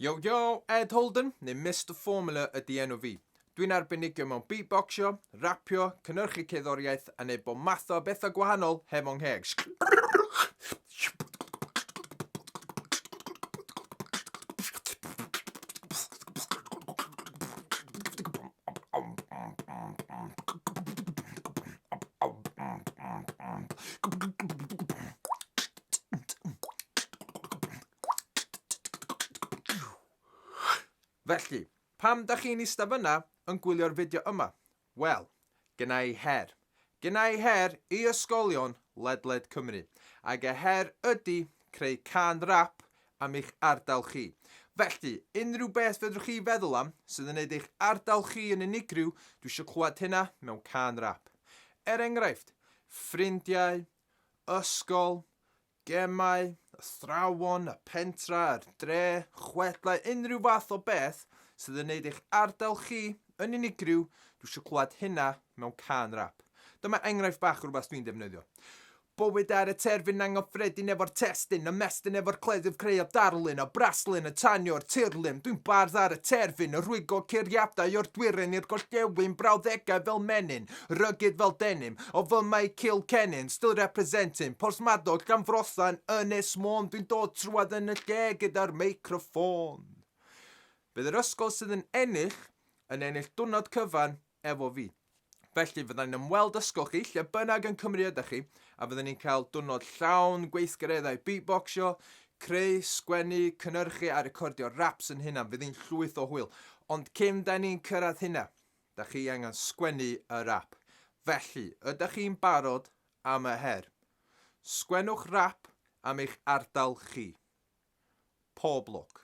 Yo yo, Ed Holden, neu Mr Formula ydy enw fi. Dwi'n arbenigio mewn beatboxio, rapio, cynnyrchu cerddoriaeth a neud bob math o bethau gwahanol heb o'n ngheg. Felly, pam da chi'n eista fyna yn gwylio'r fideo yma? Wel, gyna i her. Gyna i her i ysgolion ledled Cymru. Ac y her ydy creu can rap am eich ardal chi. Felly, unrhyw beth fedrwch chi feddwl am sydd yn neud eich ardal chi yn unigryw, dwi eisiau clywed hynna mewn can rap. Er enghraifft, ffrindiau, ysgol, gemau, athrawon, y pentra, yr dre, chwedlau, unrhyw fath o beth sydd yn neud eich ardal chi yn unigryw, dwi eisiau clywed hynna mewn cân rap. Dyma enghraifft bach o rhywbeth dwi'n defnyddio. Bywyd ar y terfyn anghyffredin efo'r testyn, ymestyn efo'r cleddyf creu a darlun, a braslun yn tanio'r tirlun. Dwi'n bardd ar y terfyn, yn rhwygo curiadau o'r dwyrain i'r gorllewin, brawddegau fel menyn, Rugged fel denim, o fy mae Kilkennin still representing, Porthmadog, Llanfrothan, Ynys Môn Dwi'n dod trwad yn y lle gyda'r meicroffôn Bydd yr ysgol sydd yn ennill, yn ennill dwrnod cyfan efo fi. Felly fyddai'n yn ymweld ysgol chi lle bynnag yn Cymru ydych chi a fyddwn ni'n cael dwrnod llawn gweithgareddau beatboxio, creu, sgwennu, cynnyrchu a recordio raps yn hunan, fydd hi'n llwyth o hwyl. Ond cyn da ni'n cyrraedd hynna, Dach chi angen sgwennu yr ap. Felly, ydach chi'n barod am y her? Sgwennwch rap am eich ardal chi. Pob lwc.